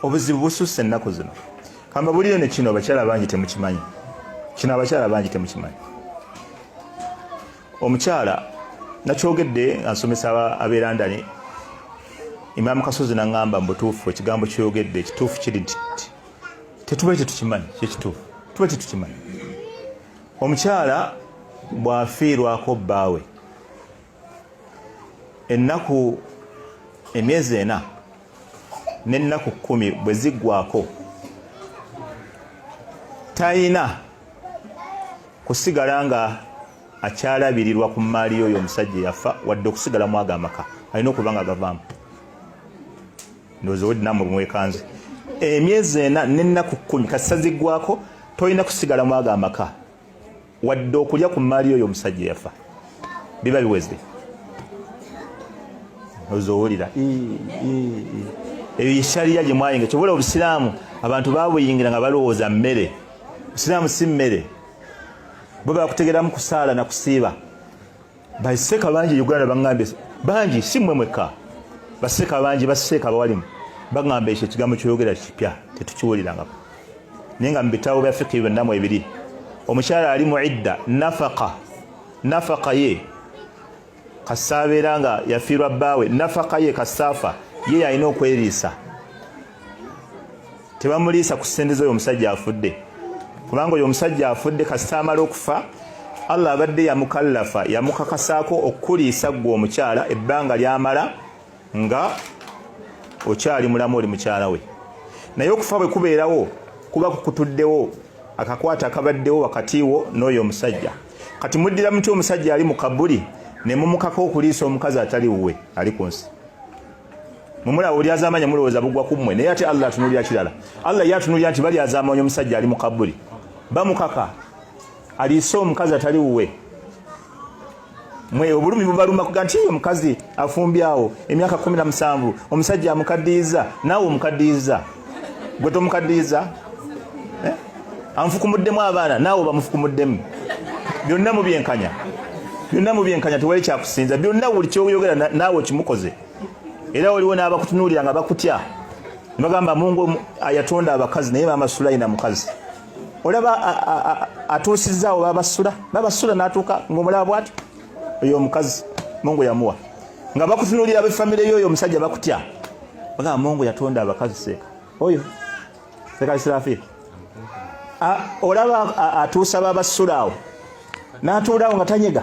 obuzibu bususse ennaku zino kamba buliyo ne kino abakyala bangi temukimanyi kino abakyala bangi temukimanyi omukyala nakyogedde ansomesa ab'e london imaamu kasozi naŋŋamba mu butuufu ekigambo kyoyogedde ekituufu kiri nti tetuba tetukimanyi kyekituufu tuba tetukimanyi omukyala bw'afiirwako bbaawe ennaku emyezi ena n'ennaku kkumi bwe ziggwako talina kusigala nga akyalabirirwa ku mmaali yoyo omusajja eyafa wadde okusigala mu ago amaka alina okuba nga agavaamu ndowooza wedinamu bumwekanze emyezi ena n'ennaku kkumi kasita ziggwako tolina kusigala mu ago amaka wadde okulya ku mmaali yoyo omusajja yafa biba biwezde ozowulira ebyo yeshariya gye mwayinga kyobola obusiraamu abantu babuyingira nga balowooza mmere busiraamu si mmere bo bakutegeramu kusaala na kusiiba baseka bangi uganda bangambye bangi si mmwe mwekka baseka bangi baseka abawalimu bagamba ekyo ekigambo kyoyogera kipya tetukiwulirangako naye nga mubitabo bya fiki byonna mu ebiri omukyala ali mu idda nafaka nafaka ye kasaabeera nga yafiirwa bbaawe nafaka ye kasaafa ye yalina okweriisa tebamuliisa ku sente zoyo omusajja afudde kubanga oyo omusajja afudde kasita amala okufa allah abadde yamukallafa yamukakasaako okukuliisa ggwe omukyala ebbanga lyamala nga okyali mulamu oli mukyala we naye okufa bwe kubeerawo kuba kukutuddewo akakwata akabaddewo wakati wo n'oyo omusajja kati muddira mutya omusajja ali mu kabuli ne mumukaka okuliisa omukazi atali wuwe ali ku nsi mumulaba olyazamanya mulowooza bugwa ku mmwe naye ate allah atunulira kirala allah ye atunulira nti balyazamanya omusajja ali mu kabuli bamukaka aliise omukazi atali wuwe mwe obulumi bubaluma kuga nti omukazi afumbyawo emyaka kumi na musanvu omusajja amukaddiyiza naawe omukaddiyiza gwe tomukaddiyiza eh? amufukumuddemu abaana naawe bamufukumuddemu byonna mubyenkanya byonna mubyenkanya tewali kyakusinza byonna buli kyoyogera naawe okimukoze era waliwo n'abakutunuulira nga bakutya nebagamba mungu ayatonda abakazi naye maama sulayina mukazi olaba atuusizaawo babasula babasula natuuka ngaomulaba bwati oyo omukazi mungu yamuwa nga bakutunulira abefamire yoyo omusajja bakutya bagamba mungu yatonda abakazi seeka oyo seeka sirafi olaba atuusa babasulaawo natuulawo nga tanyega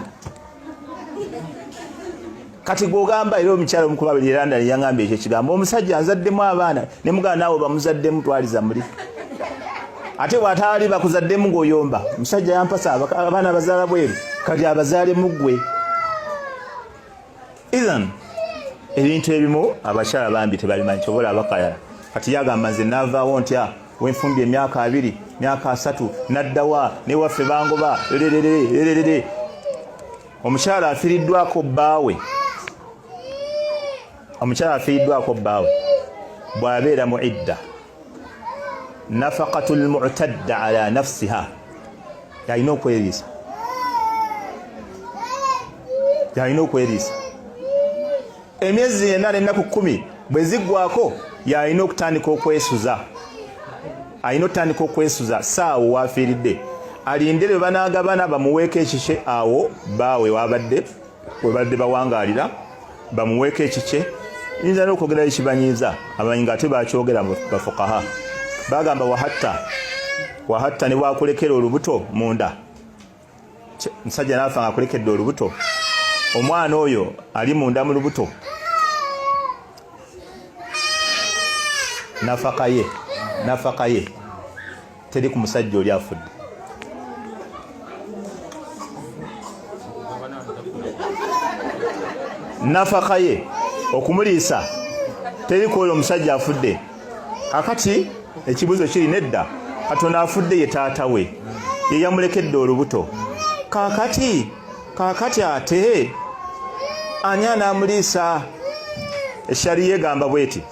kati gwogamba era omukyalo omukuba buli london yangambye ekyo ekigambo omusajja nzaddemu abaana ne mugana naawe bamuzaddemu twaliza muli ate bwataali bakuzaddemu ng'oyomba musajja yampasa abaana abazaala bweru kati abazaale muggwe ethan ebintu ebimu abakyala bambi tebabimanyi kyobola abakayala kati yagamba nze navaawo ntya wenfumbye emyaka abiri myaka asatu naddawa newaffe bangoba lerererererere omukyala afiriddwako bbaawe omukyala afiiddwako bbaawe bw'abeera mu idda nafaqatu lmutadda ala nafsiha yalina okweriisa yalina okweriisa emyezi ena n'ennaku kkumi bwe ziggwako yalina okutandika okwesuza alina okutandika okwesuza saawo waafiiridde alinde lwe banaagabana bamuweeko ekikye awo baawe waabadde webadde bawangalira bamuweeko ekikye nyinza nokwogerayo ekibanyiiza abamanyi nga ate bakyogera bafukaha bagamba wahatta wahatta ne wakulekera olubuto munda musajja naafa nga akulekedde olubuto omwana oyo ali munda mu lubuto nafaka ye nafaka ye teri ku musajja oli afudde nafaka ye okumuliisa teri ku oyo omusajja afudde kakati ekibuzo kiri nedda katonda afudde ye taata we ye yamulekedde olubuto kakati kakati ate ani anaamuliisa eshariya egamba bweti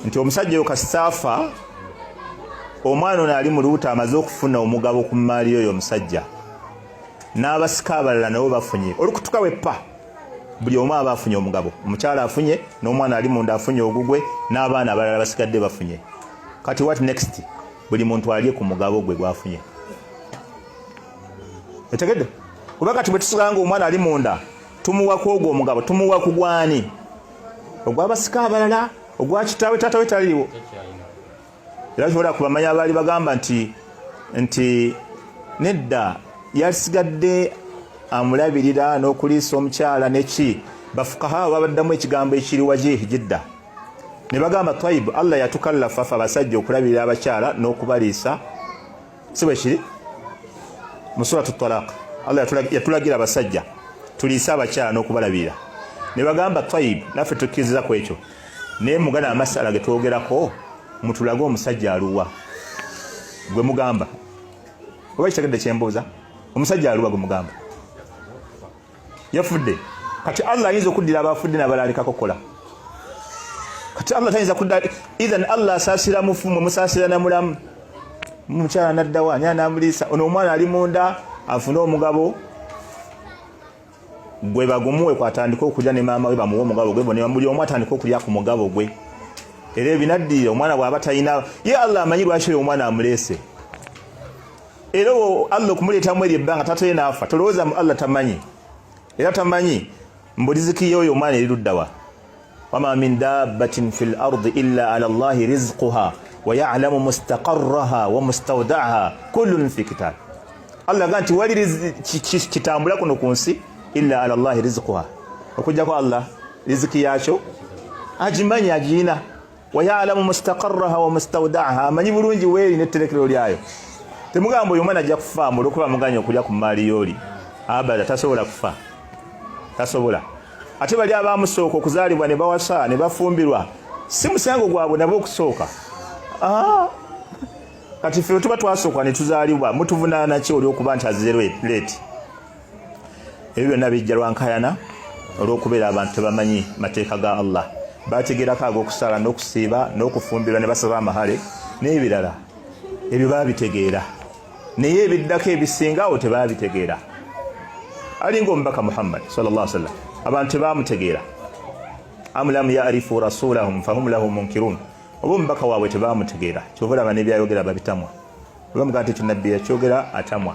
nti omusajja oyo kasitaafa omwana ono ali mu lubuto amaze okufuna omugabo ku mmaali oyo omusajja n'abasika abalala nabo bafunye olukutuka weppa buli omu aba afunye omugabo omukyala afunye n'omwana ali munda afunye ogugwe n'abaana abalala basigadde bafunye kati wat next buli muntu alye ku mugabo gwe gwafunye etegedde kuba kati bwe tusiganga omwana ali munda tumuwa ku ogwo omugabo tumuwa ku gwani ogwabasika abalala ogwa kitaawe taata we taliiwo era kyobola ku bamanya abaali bagamba nti nti nedda yasigadde amulabirira n'okuliisa omukyala neki bafukaha babaddamu ekigambo ekiri wajihi jidda ne bagamba twaibu allah yatukallafafa abasajja okulabirira abakyala n'okubaliisa si bwe kiri mu suratu talaq allah yatulagira abasajja tuliise abakyala n'okubalabirira ne bagamba tayib naffe tukkiriza ku ekyo naye mugana amasala ge twogerako mutulage omusajja aluwa gwe mugamba oba kitegedde kyembuuza omusajja aluwa gwe mugamba yafudde kati allah ayinza okuddira abafudde nabalaalekako kola kati allah tayinza kudda ethan allah asaasira mufu mwe musaasira namulamu mukyala naddawa ani anamuliisa ono omwana ali munda afune omugabo gwe bagumuwe kwatandika okulya ne maama we bamuwe omugabo gwe bona buli omu atandika okulya ku mugabo gwe era ebinaddirira omwana bwaba talina ye allah amanyi lwaki oyo omwana amuleese era owo allah okumuleetamu eryo ebbanga taata ye naafa tolowooza mu allah tamanyi era tamanyi mbuliziki ye oyo omwana eri luddawa wama min dabbatin fi lardi illa ala llahi rizquha wayalamu mustaqaraha wa mustaudaaha kullun fi kitabi allah aga nti wali kitambula kuno ku nsi illa ala llahi rizquha okujjako allah riziki yakyo agimanyi agiyina wayalamu mustaqarraha wa mustawdaaha amanyi bulungi weeri netterekero lyayo temugamba oyo omwana ajja kufa mbu olwokuba muganya okulya ku maali yooli abada tasobola kufa tasobola ate bali abamusooka okuzaalibwa ne bawasa ne bafumbirwa si musango gwabwe nabo okusooka ah! kati ffe tuba twasooka ne tuzaalibwa mutuvunaanaki olwokuba nti azze leeti ebyo byonna bijja lwankayana olw'okubeera abantu tebamanyi mateeka ga allah bategerako ag'okusaala n'okusiiba n'okufumbirwa ne basaba amahale n'ebirala ebyo baabitegeera naye ebiddako ebisinga awo tebaabitegeera alinga omubaka muhammad salla sallam abantu tebaamutegeera amulamu yaarifu rasulahum fahum lahu munkirun oba omubaka waabwe tebaamutegeera kyova olaba nebyayogera babitamwa oba mugaa nti ekyo nabbi yakyogera atamwa